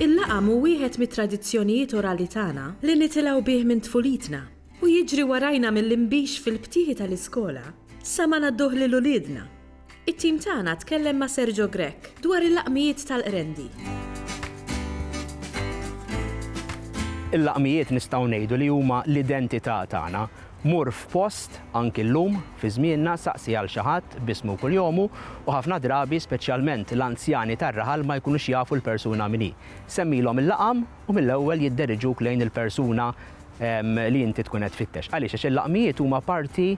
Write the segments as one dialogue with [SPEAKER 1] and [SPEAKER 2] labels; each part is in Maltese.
[SPEAKER 1] Il-laqam hu wieħed mit-tradizzjonijiet orali tagħna li nitilgħu bih minn tfulitna u jiġri warajna mill-inbix fil-btieħi tal-iskola sa ma ngħadduh lil uliedna. It-tim tagħna tkellem ma' Sergio Grech dwar il-laqmijiet tal-qrendi.
[SPEAKER 2] Il-laqmijiet nistgħu ngħidu li huma l-identità tagħna. Mur f'post, anki llum, fi żmienna, saqsi għal xi ħadd b'ismu kuljomu u ħafna drabi, speċjalment l-anzjani tar-raħal ma jkunux jafu l-persuna min hi. Semmilhom il-laqam u mill-ewwel jidderiġuk lejn il-persuna li inti tkun qed tfittex. Għaliex? Għax il-laqmijiet huma parti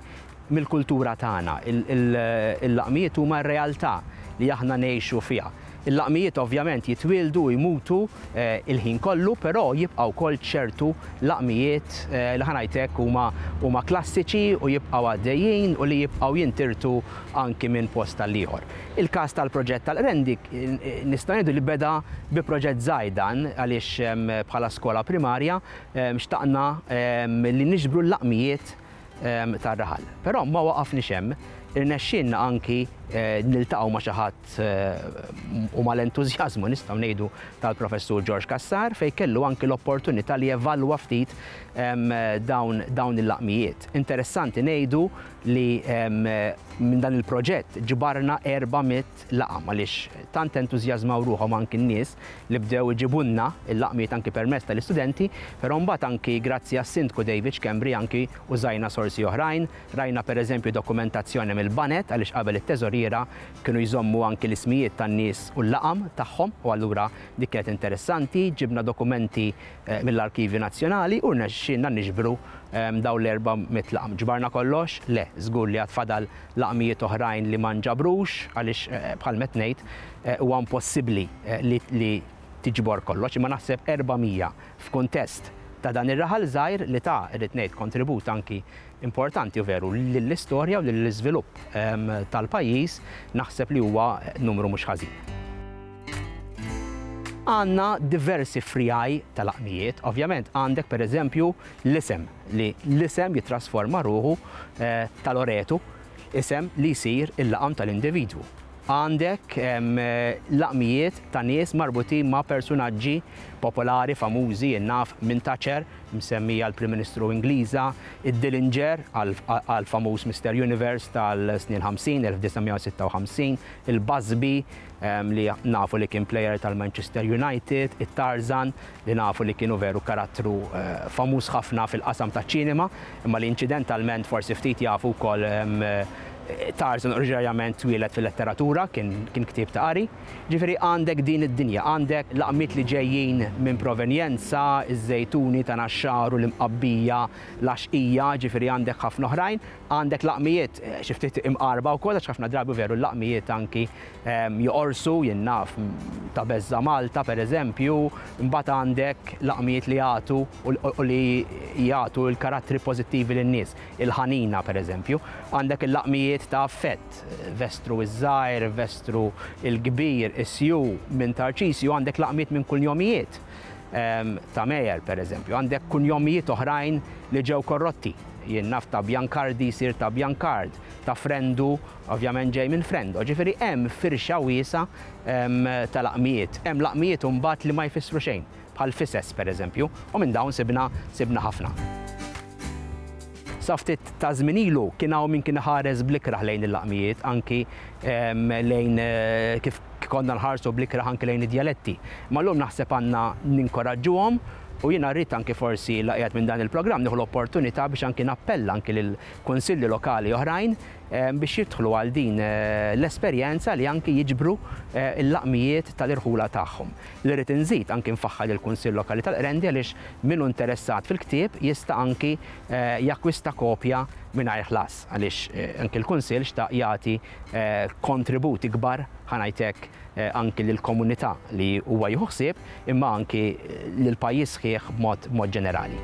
[SPEAKER 2] mill-kultura tagħna. Il-laqmijiet huma r-realtà li aħna ngħixu fiha. Il-laqmijiet ovvjament jitwieldu u jmutu l-ħin kollu, però jibqa' wkoll ċertu laqmijiet li ħa ngħid hekk huma huma klassiċi u jibqgħu għaddejjin u li jibqgħu jintirtu anki minn post għall-ieħor. Il-każ tal-proġett tal-Qrendi nistgħu ngħidu li beda bi proġett żgħir dan għaliex bħala skola primarja xtaqna li niġbru l-laqmijiet tar-raħal. Però ma waqafniex hemm, irnexxielna anki niltaqgħu ma' xi ħadd u mal-entużjażmu nistgħu ngħidu tal-Professur George Cassar fejn kellu anki l-opportunità li jevalwa ftit dawn il-laqmijiet. Interessanti ngħidu li minn dan il-proġett ġbarna 400 laqam għaliex tant entużjażmaw ruħhom anki n-nies li bdew iġibulna l-laqmiet anki permezz tal-istudenti, però mbagħad anki grazzi għas-Sindku David Schembri anki użajna sorsi oħrajn, rajna pereżempju dokumentazzjoni mill-Baned għaliex qabel it-Teżoriera kienu jżommu anki l-ismijiet tan-nies u l-laqam tagħhom u allura dik kienet interessanti, ġibna dokumenti mill-Arkivju Nazzjonali u rnexxielna niġbru dawn l-400 laqam. Ġbarna kollox? Le, żgur li għad fadal laqmijiet oħrajn li ma nġabrux għaliex bħalma qed ngħid huwa impossibbli li tiġbor kollox imma naħseb 400 f'kuntest ta' dan ir-raħal żgħir li ta, irrid ngħid, kontribut anki importanti u veru lill-istorja u lill-iżvilupp tal-pajjiż naħseb li huwa numru mhux ħażin. Għandna diversi friegħi ta' laqmijiet, ovvjament għandek pereżempju L-isem, li l-isem jittrasforma ruħu tal-oretu, isem li jsir il-laqam tal-individwu. Għandek laqmijiet ta' nies marbutin ma' persunaġġi popolari famużi, in-naf minn Thatcher, msemmi għall-Prim Ministru Ingliża, id-Dillinger għall-famuż Mister Universe tal-snin ħamsin, 1956, il-Busby li nafu li kien plejer tal-Manchester United, it-Tarzan, li nafu li kienu veru karattru famuż ħafna fil-qasam taċ-ċinema, imma li inċidentalment forsi ftit jafu wkoll Tarzan oriġinarjament twieled fil-letteratura, kien kien ktieb ta' qari. Ġifieri għandek din id-dinja, għandek laqmiet li ġejjin minn provenjenza, iż-żejtuni ta' Naxxar u l-Imqabbija, l-Għaxqija, ġifieri għandek ħafna oħrajn. Għandek laqmijiet xi ftit imqarba wkoll għax ħafna drabi veru l-laqmijiet anki joqorsu, jien naf ta' Beżża' Malta pereżempju, imbagħad għandek laqmijiet li jagħtu u li jagħtu l-karattri pożittivi lin-nies, il-ħanina pereżempju. Għandek il-laqmijiet ta' affett, vestru ż-żgħir, vestru l-kbir, isju minn Tarċisju, għandek laqmiet minn kunjomijiet ta' Meyer pereżempju, għandek kunjomijiet oħrajn li ġew korrotti. Jien naf ta' Biancardi jsir ta' Biancard, ta' Frendu ovvjament ġej minn Frendo. Ġifieri hemm firxa wiesgħa ta' laqmijiet. Hemm laqmijiet imbagħad li ma jfissru xejn, bħal fises pereżempju, u minn dawn sibna sibna ħafna. Sa ftit ta' żmien ilu kien hawn min kien iħares bl-ikrah lejn il-laqmijiet, anki lejn kif konna nħarsu bl-ikrah anki lejn id-djaletti. Imma llum naħseb għandna ninkoraġġuhom U jiena rrid anki forsi la qiegħed minn dan il-programm nieħu l-opportunità biex anki nappella anki lil kunsilli lokali oħrajn biex jidħlu għal din l-esperjenza li anki jiġbru l-laqmijiet tal-irħula tagħhom. Li rrid inżid anki nfaħħar lill-Kunsill Lokali tal-Qrendi għaliex min hu interessat fil-ktieb jista' anki jakkwista kopja mingħajr ħlas għaliex anki l-Kunsill xtaq jagħti kontribut ikbar, ħa ngħid hekk, anki lill-komunità li huwa jieħu ħsieb, imma anki lill-pajjiż sħiħ b'mod b'mod ġenerali.